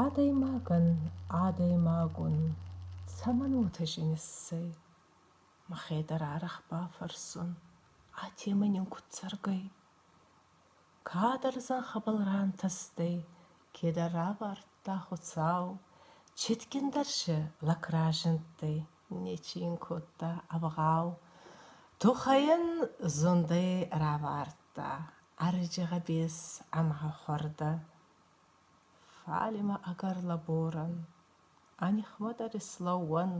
Адӕймагӕн адӕймагон цӕмӕн уотӕ зин ӕссӕй? Мӕхе дӕр арӕх бафӕрсун, а темӕ нин куд цӕргӕй? Кадӕр зӕнхӕбӕл рантӕстӕй, кедӕр равардта Хуцау, цитгиндӕр се лӕг разиндтӕй, нечи ин кодта ӕвгъау. Тухайӕн зундӕй равардта ӕрӕджи гъӕбес ӕма хуӕрдӕ. Фалимӕ ӕгӕр лӕборӕн, ӕ нихмӕ дӕр ислӕууӕн,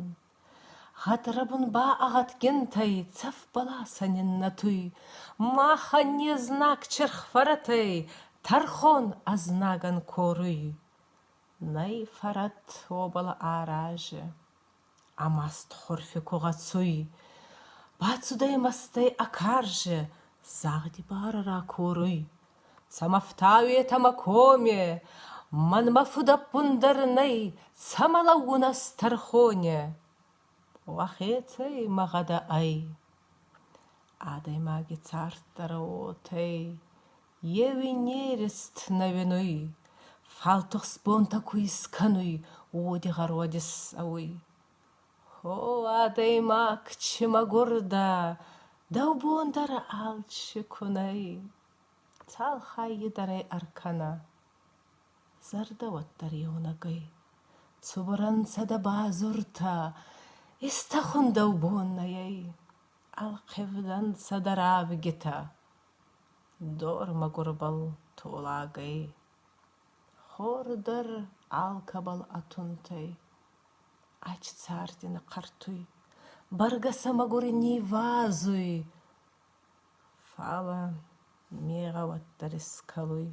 гъӕдрӕбун ба ӕгъатгинтӕй цӕф баласӕн иннӕтуй, махӕн не знаг чирхфӕрӕтӕй тӕрхон ӕзнагӕн коруй. Нӕй фӕрӕт уобӕл арази. Ӕмастхорфи ку гъӕцуй, бацудӕй мӕстӕй ӕ карзӕ, загъди барӕ ракоруй: «Цӕмӕ фтауетӕмӕ коме? Мӕнмӕ фудӕппун дӕр нӕй, цӕмӕ лӕугун ӕз тӕрхоне?» Уӕхецӕй мӕ гъӕдӕ ӕй. Адӕймаги царддӕрӕ уотӕ ӕй, Еуи нерест нӕуинуй, Фал тухстбонтӕ ку искӕнуй, Уоди гъӕрвӕди ссӕуй. О, адӕймаг, чи мӕгурдӕ, Дӕу бон дӕр алчи кунай, Цал хаййи дӕр ӕй ӕркӕна. Зӕрдӕ уӕддӕр еунӕгӕй, Цубур ӕнцӕ дӕ базуртӕ, Истӕхун дӕу бон нӕй ӕй, Ӕлхъивдӕнцӕ дӕ равгитӕ. Дор мӕгурбӕл толагӕй, хор дӕр алкӕбӕл атунтӕй. Ачи царди нихъӕртуй, бӕргӕ сӕ мӕгури нивазуй. Фалӕ мегъӕ уӕддӕр искӕлуй.